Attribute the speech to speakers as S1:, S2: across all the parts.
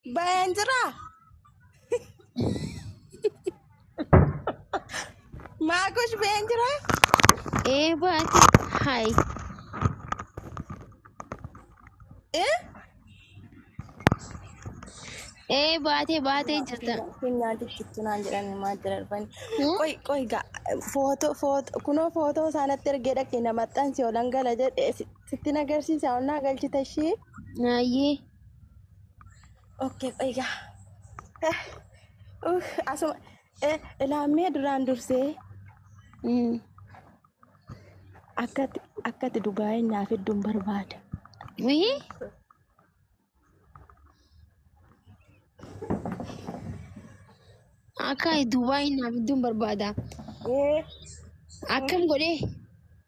S1: Bayan jira. Maakush bayan jira. Ee
S2: baati. Hay. Eh? Ee baatee baatee jirta. Keenyaa dikkittu
S1: naan jedhanii maal jira dhufani. Hmm? Qoy qoy ga footoo footoo kunoo footoo isaanatti ergee dhaqee na maxxansi olan gala jedhe si- sitti na agarsiisa ol naa galchita ishee. Naayee. Okkee qoygaa. Asuma eh, ilaammee duraan dursee mm, akkati akkati dhugaa'ee naaf hedduun barbaada. Wii
S2: akka Dubaay naaf hedduun barbaada. Ee, Akkam godhee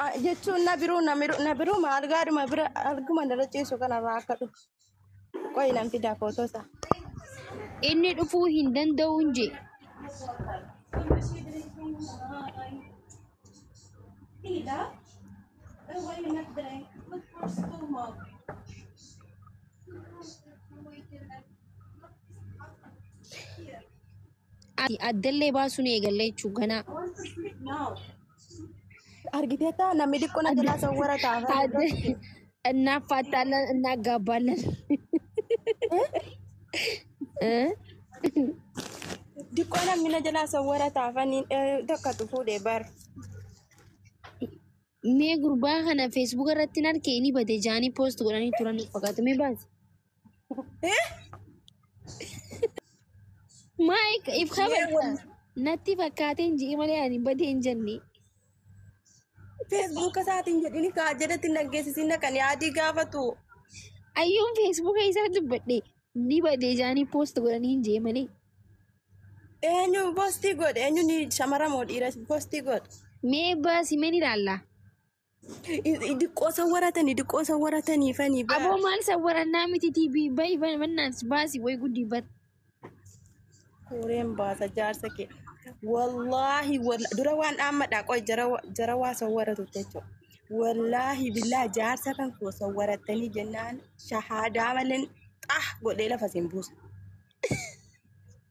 S2: Ah,
S1: jechuun na biruu na miru- na biruu ma algaadhuma bira alguma dala ciisu kanarraa akka dhufu qoyi nan fidaa footoo isaa. Inni
S2: dhufuu hin danda'u hin jee. Ati addallee baasuu ni eegalle jechuun ganaa.
S1: Argiteetta namni diqqoo na jalaa sawwara ta'a. Adde innaa faattaallan
S2: innaa gaabbaallan.
S1: Diqqoo namni na jalaa sawwara taafan tokkotu fuudhe bar.
S2: Mee gurbaa kana feesbuuka irratti hin argee ni bade jaanii poost godhanii turan fakkaatu mee baasi. Maayik ibsa barta. Natti fakkaateen ji'i malee ani badee hin jenne. Feesbuuka
S1: isaatiin jedhini kaa jedhatti naggeessisiin kan yaadii gaafatu. Ayyuun
S2: feesbuuka isaa dubbadhe ni badee jaanii poost godhanii hin jee malee.
S1: Eenyu postii godhe eenyu ni shamara moo dhiira postii godhe. Mee baasi
S2: meen ilaalla.
S1: Diqqoo san waratanii diqqoo san waratanii fanii baa. Aboo maal isa warannaa
S2: miti TV bayi mannaan baasi way guddi bar.
S1: Suureen baasa jaarsa kee. Wallaahi walla- dura waan dhaammadhaa qoy jara wa- jara waa sawwaratu jechuudha. Wallaahi billaa jaarsa kan koo sawwarattanii jennaan shahaadaa maleen xah godhee lafa isin buusa.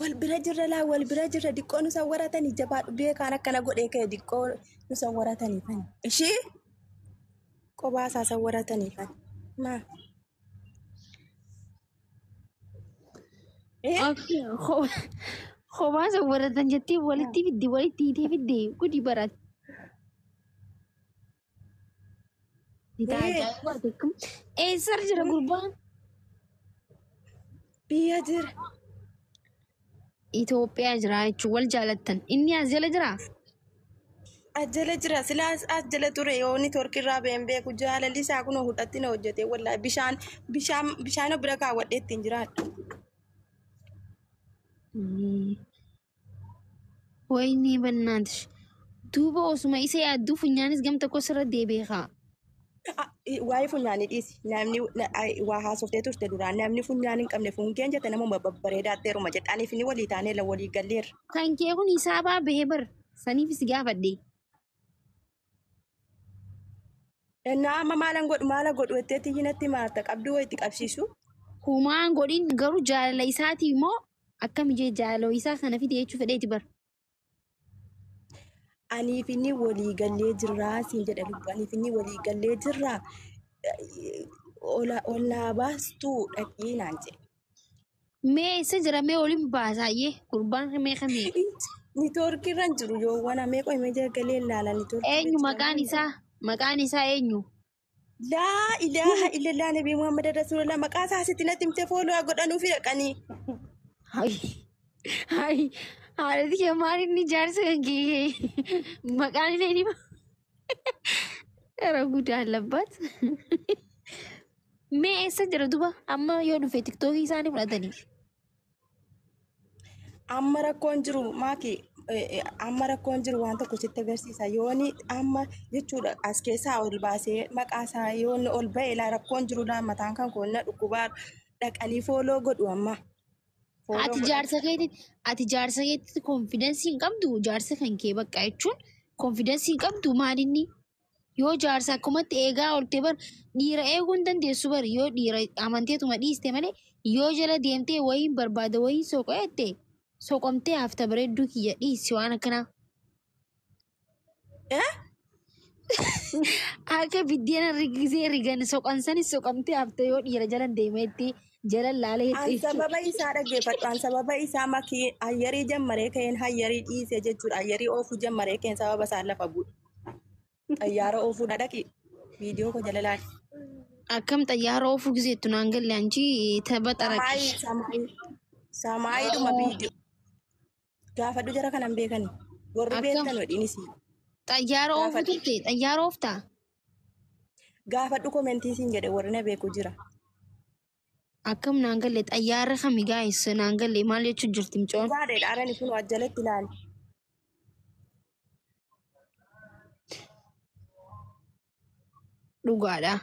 S1: Wal bira jirra laa wal bira jirra diqqoo nu sawwaratanii jabaadhu beekaan akkana godhee ka'e diqqoo nu sawwaratanii kan ishii qobaa isaa sawwaratanii kan maa.
S2: Eh, Absee, ko- Kophaa isa warratan jettee walitti fidde walitti hiitee fidde gudi barat. Eessar jira gurbaan?
S1: Biyya jira.
S2: Itoophiyaa jira jechuun wal jaalattan. Inni as jala jira?
S1: As jala jira. Silaa as jala ture yoo network irraa ba'een beeku jaalalli isaa kun hudhatti na hojjete wallahi bishaan bishaan bishaan bira kaawwadhee ittiin jiraadha.
S2: Wayinii bannaatish. Duuba osuma isa yaadduu funyaanis gam tokko sirra deebi'e kaa. A- i-
S1: Waa'ee funyaanii dhiisi. Namni na- ai- waa haasoftee turte duraan namni funyaan hin qabne fungeen jette namuma babbareedaatteeruma jette. Aniif inni walii taaneela walii galleerra. Kan kee kun hisaabaa
S2: bahee bar saniif si gaafadhe.
S1: Ennaa amma maalan godhu maala godhu jetteetti iyyinatti maarta qabduu wayitti qabsiisu. Humaan
S2: godhin garuu jaalala isaati immoo akkam jee jaalala isaa sana fide jechuu fedheeti bar. Aniif
S1: inni walii gallee jirraa siin jedha lubbu. Aniif inni walii gallee jirraa ol naa baastuu dhaqii naan jedhe. Mee
S2: isa jira mee waliin baasaayyee gurbaan mee kamii Nitoorkii
S1: irra hin jiru yoo wana mee qoy mee jagalee
S2: ilaala
S1: nitoorkii. eenyu
S2: maqaan
S1: isaa
S2: maqaan
S1: isaa eenyu Laa ilaaha illallah nabii Muhammad Rasulullah maqaa isaa sitti natti himtee fooloo haa godhanuufi dhaqanii. Hai
S2: hai haadhati kee maal inni jaarsa kan kee maqaan illee ni Gara guddaa labbaat. Mee eessa jira duba? Amma yoo dhufe tiktookii isaanii fudhatanii. Amma
S1: rakkoon jiru maaki eh, eh, amma rakkoon jiru waan tokko sitti agarsiisa yooni amma jechuudha as keessaa ol baasee maqaa isaa yoonni ol ba'e laa rakkoon jirudha mataan kan koonna dhukkubaa dhaqanii fooloo godhu amma Follow Ati godha. jaarsa keetitti
S2: ati jaarsa keetitti konfidansii hin qabdu jaarsa kan kee bakka jechuun konfidansii hin qabdu maalinni yoo jaarsa akkumatti eegaa oolte bar dhiira eeguu hin dandeessu bar yoo dhiira amanteetuma dhiiste malee yoo jala deemtee wayiin barbaada wayiin soqo'ette soqomtee hafta bareedduu kiyya dhiisi waan akkanaa. Akka biddeena rigisee rigan soqan sanis soqamtee hafte yoo dhiira jalan deemeetti jalan laalee An itti sababa isaa
S1: dhaggeeffadhu. An sababa isaa makii hayyarii jammaree ka'een hayyarii dhiisee jechuudha. Hayyarii oofuu jammaree ka'een sababa isaa lafa bu'e. Xayyaara oofuudha dhaqi. Viidiyoo koo jala laali. akkam
S2: xayyaara oofuu giseettu naan galle anchi tapha xaraqi. Samaayii samaayii. Samaayiidhuma
S1: viidiyoo. Gaafadhu jara kanan beekani. Warri Akkam? beektan wadhiinis. Xayyaara
S2: oofu Gaafadhu. turte xayyaara ooftaa?
S1: Gaafadhu komentii siin jedhe warri na beeku jira.
S2: Akkam naan galle xayyaara kami gaa'is naan galle maal jechuun jirti micoon? Gaadhe dhaarani kun
S1: ajjalatti ilaali.
S2: Dhugaadha.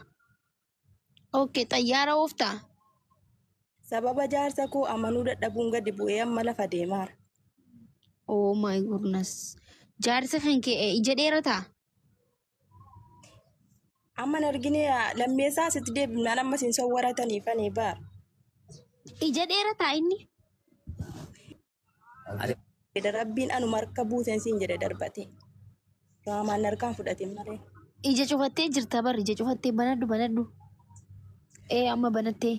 S2: Okay, xayyaara ooftaa?
S1: Sababa jaarsa koo amanuu dadhabuun gadi bu'ee amma lafa deemaara.
S2: Oh my goodness. Jaarsa kan kee eh, ija dheerataa?
S1: Amma hin argine lammeessaa sitti deebifnaan amma isin sawwaratanii fanee baara.
S2: Ija dheerataa inni?
S1: Ati jedhe rabbiin anuma harka buusen siin jedhe darbate. Raamaan harkaan fudhatin malee. Ija cufattee
S2: jirta bar ija cufattee banadhu banadhu. Ee amma banattee.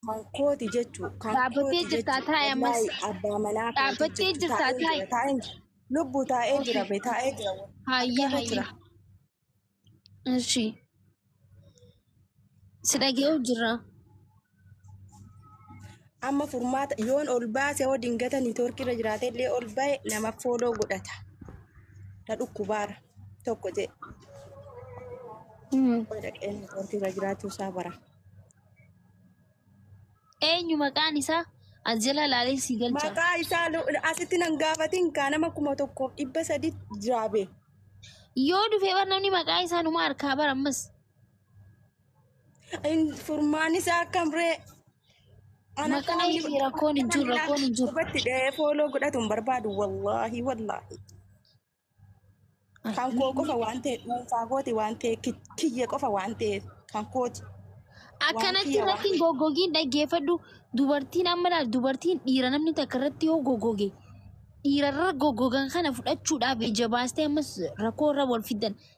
S2: Kan kooti
S1: jechuu. Kan Dhaabbattee kooti jirtaa
S2: jechuu. taa'e ammas. Wallaahi abbaa manaa kooti
S1: Dhaabbattee jechuu. jirtaa Taa'ee
S2: taa'e. jira, taa'ee jira. Lubbuu taa'ee
S1: jira be taa'ee jira. Hayyee Argaa koo hayyee. jira.
S2: Ishi. Si dhaga'u jirra.
S1: Amma furmaata yoon ol baase hoo dingata niitoorkii irra jiraate illee ol ba'e nama fooloo godhata. Na dhukkubaara tokko jee Hmm. dhaqee niitoorkii irra jiraachuu isaa bara.
S2: Eenyu maqaan isaa? As jala ilaalee sii galcha. Maqaa isaa lu-
S1: asitti nan gaafatin kaa nama kuma tokkoof dhibba sadii jiraabe. Yoo
S2: dhufee bar namni maqaa isaa numa harkaa bar ammas. In-
S1: Furmaan isaa akkam ree? Ana
S2: Maqaa foolii ishee godhatu rakkoon hin jiru, rakkoon hin jiru. Qubatti dhahee
S1: fooloo godhatu hin barbaadu wallaahi wallaahi. Kan koo qofa waan ta'e dhuunfaa kooti waan ta'e kiyya qofa waan ta'e kan kooti. Akkanatti
S2: irratti hin goggogiin dhaggeeffadhu. Dubartiin amma laal dubartiin dhiira namni takka irratti yoo goggoge dhiirarra goggogan kana fudhachuudhaaf ija baastee ammas rakkoo irra wal fiddan.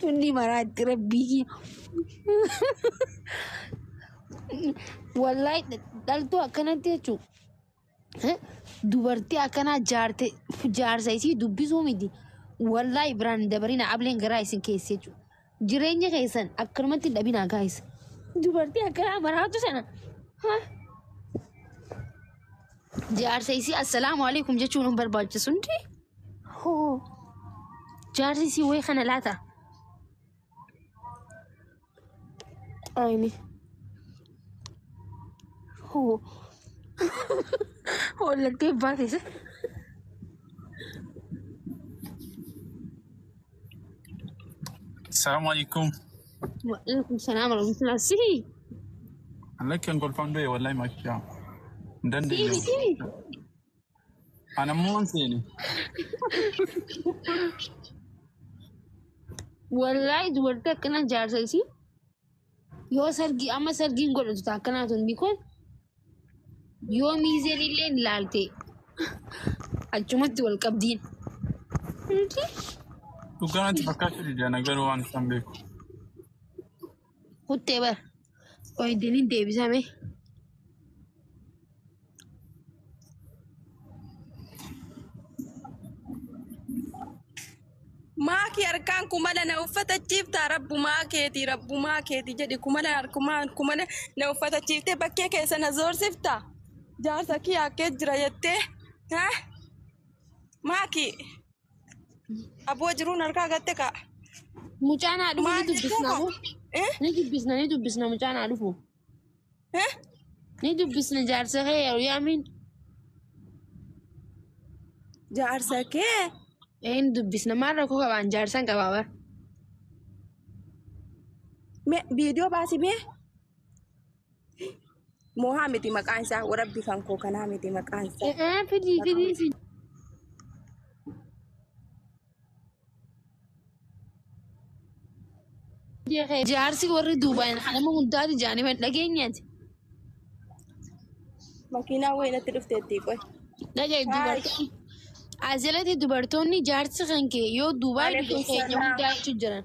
S2: Tunni maraatti rabbii. Wallahi dhaltuu akkanatti jechuun dubartii akkanaa jaarte jaarsa isii dubbisuu miti. Wallahi biraan dabarina ableen garaa isin keessa jechuudha. Jireenya keessan akkanumatti hin dhabinaa gaayis. Dubartii akkanaa maraatu sana. Ha? Jaarsa isii assalaamu alaikum jechuun hin barbaachisu hundi. Hoo. Jaarsi isii wayii kana laata. Ayini. Hoo. Hollattee baatee.
S3: Assalamu alaikum. Waalaikum
S2: salaam warahmatullahi sihi.
S3: Lakkan kolfaan du'e wallahi makiyaa. Hin dandeenye. Sihi sihi. An ammoo hin seene.
S2: Wallaahi dubartii akkana jaarsa isii. Yoo sargii amma sargiin godhatu ta'a akkanaa tun bikoon yoo miizeen illee hin laalte achumatti wal qabdiin.
S3: Dhugaa natti fakkaachuu dide ana garuu waan isaan beeku.
S2: Kuttee bara. Qoy dinin deebisame.
S1: Maaki harkaan kumala na uffatachiifta rabbumaa keeti rabbumaa keeti jedhi kumala harkumaan kumala na uffatachiiftee bakkee keessa na zoorsifta jaarsa kiyya akkee jira jettee ha maaki aboo jiruun harkaa gatte kaa Mucaan haa
S2: dhufu ni Maal dubbisna jechuudha? moo? Eh? Ni dubbisna ni dubbisna mucaan haa dhufu. Ni dubbisna jaarsa kee yeroo yaamiin.
S1: Jaarsa kee Ee ni dubbisna
S2: maal rakkoo qabaan jaarsan qabaa bara.
S1: mee viidiyoo baasi mee. Moohaa miti maqaan isaa warabbi kan koo kanaa miti maqaan isaa. Ee fidii fidii si.
S2: Jaarsi warri duubaan hanama hundaati jaanii man dhageenyaati.
S1: Makiinaa wayii natti dhufteetti qoy. Dhagaye dubartoonni
S2: as jalatti dubartoonni jaarsi kan kee yoo duubaa Waalaikum biyya keenya salaam. hundaa jechuun jiran.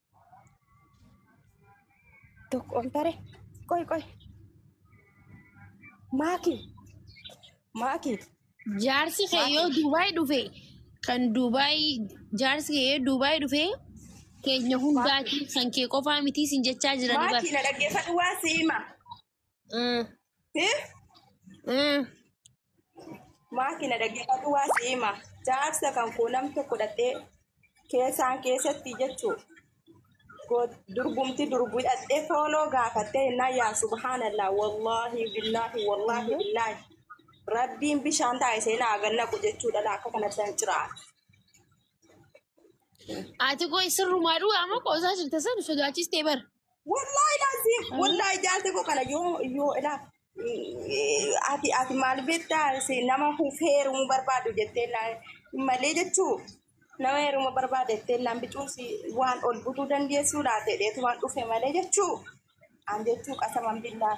S1: Tokko ol tare. Qoy qoy. Maaki. Maaki.
S2: Jaarsi kee yoo Duubaay dhufe kan Duubaay jaarsi kee yoo Duubaay dhufe keenya hundaati kan kee qofaa mitii sin jechaa jirani Maaki bara. na dhaggeeffadhu waan si
S1: hima. Mm. Siif Mm. maatii na dhaggeeffatu waa si hima. Jaarsa kan koo nam tokko dhaqxee keessaan keessatti jechuu durgumti durbu dhaqxee fooloo gaafattee innaa yaa subhaanallah wallaahi billaahi wallaahi billaahi rabbiin bishaan taa'isee naa gannaqu jechuudha laa akka kanatti nan ciraa.
S2: Ati koo sirrumaa dhugaa amma qoosaa jirta san sodaachistee bara. Wallahi
S1: laazim wallahi jaalte koo kana yoo yoo ilaa ati ati maal beektaa si nama huuf heerumuu barbaadu jettee naa malee jechuu nama heeruma barbaade jettee naan bicuu si waan ol butuu dandeessuu laate dheetu waan dhufe malee jechuu an jechuu qasaman billaa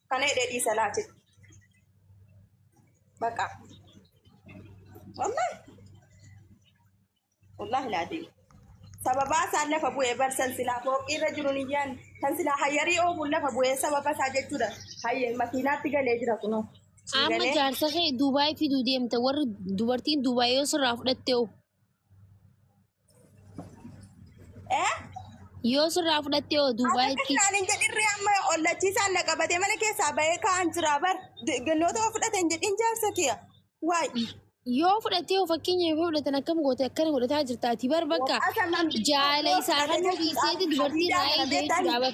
S1: kana hidhee dhiisa laa jedhe baqa wallahi wallahi laa deemu sababaa isaan lafa bu'ee barsan silaa fooqii irra jiru hin yaanne kan silaa hayyarii oofuun lafa bu'ee sababa isaa jechuudha hayye makiinaatti galee jira kunoo Sii amma galee jaarsa
S2: kee Dubaay fiduu deemta warri dubartiin Dubaay yoo sirraa fudhatte hoo Eh? Yoo sirraa fudhattee oo Duubaayitti Akkatti hin jedhirri amma
S1: ollachiisaan na qabatee mana keessaa bahee kaa'an jira bar. Gannoota yoo fudhate hin jedhin jaarsa kiyya. Waay. yoo
S2: fudhattee oo fakkeenya yoo fudhatan akkam goote akkana godhataa jirta ati bar bakka Waqaa saman- jaala isaa kan dhiiseeti dubartii irraa eegdee jira bar.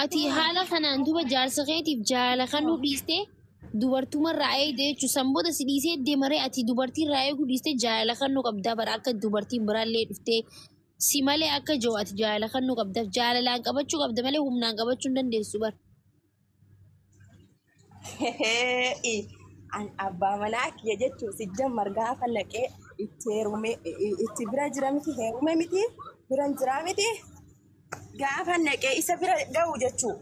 S1: Ati haala
S2: kanaan duba jaarsa keetiif jaalala kennuu dhiistee dubartuma irraa eegde jechuudha. San booda si dhiisee deemaree ati dubartii irraa eeguu dhiistee jaalala kennuu qabdaa bara akka dubartiin biraallee dhuftee si malee akka jiru ati jaalala kennuu qabdaaf jaalalaan qabachuu qabda malee humnaan qabachuu hin dandeessu bara. Hee'i
S1: an abbaa manaa kiyya jechuun sijjammar gaafa naqee itti heerume itti bira jira miti heerume miti biran jira miti gaafa naqee isa bira ga'u jechuun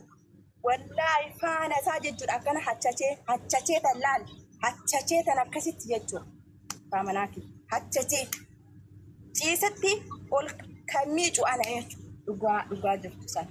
S1: wallaahi faana isaa jechuun akkana hachachee hachachee tan laal hachachee tan akkasitti jechuun abbaa manaa kiyya hachachee ciisatti ol kan miicu ana jechuun dhugaa dhugaa jirtu sana.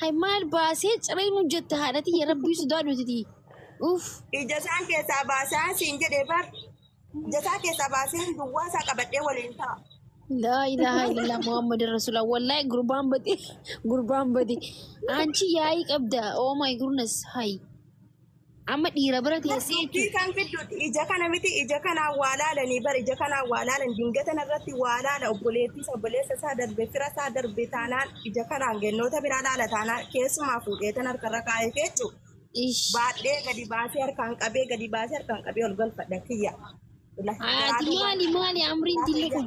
S2: Hay maal baasee ciree nu jette haadha tiyya rabbii sodaa duutiti. Uff. Ija isaan
S1: keessaa baasaa siin jedhee bar. Ija isaa keessaa baasee duwwaa isaa qabadhee waliin ta'a. Laa ilaaha
S2: illallah Muhammad Rasulullah wallahi gurbaan bade gurbaan bade anchi yaa'ii qabda oh my goodness hay Amma dhiira bira teessee Dubbii jechuudha. kan fidduuti
S1: ija kana miti ija kanaan waa laalanii bar ija kanaan waa laalan dingata irratti waa laala obboleettii isa obboleessa isaa darbe fira isaa darbe taanaan ija kanaan gannoota biraa laala taanaan keessumaa fuudhee tan harkarra kaa'ee feechu Ish. baadhee gadi baasee harkaan qabee gadi baasee harkaan qabee ol galfadha kiyya. Ilahi Haati garaaduu maali waan- maali
S2: amriin dilli kun?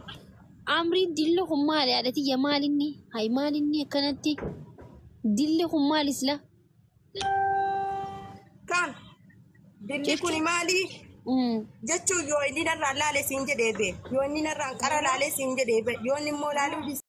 S2: Amriin dilli kun maali haadha tiyya maalinni? Hayi maalinni akkanatti? Dilli kun maali sila?
S1: Kaan dilli kun maali? Jechuun yoo inni narraan laale siin jedhee bee. Yoo inni narraan qara laale siin jedhee bee. Yoo inni immoo laaluu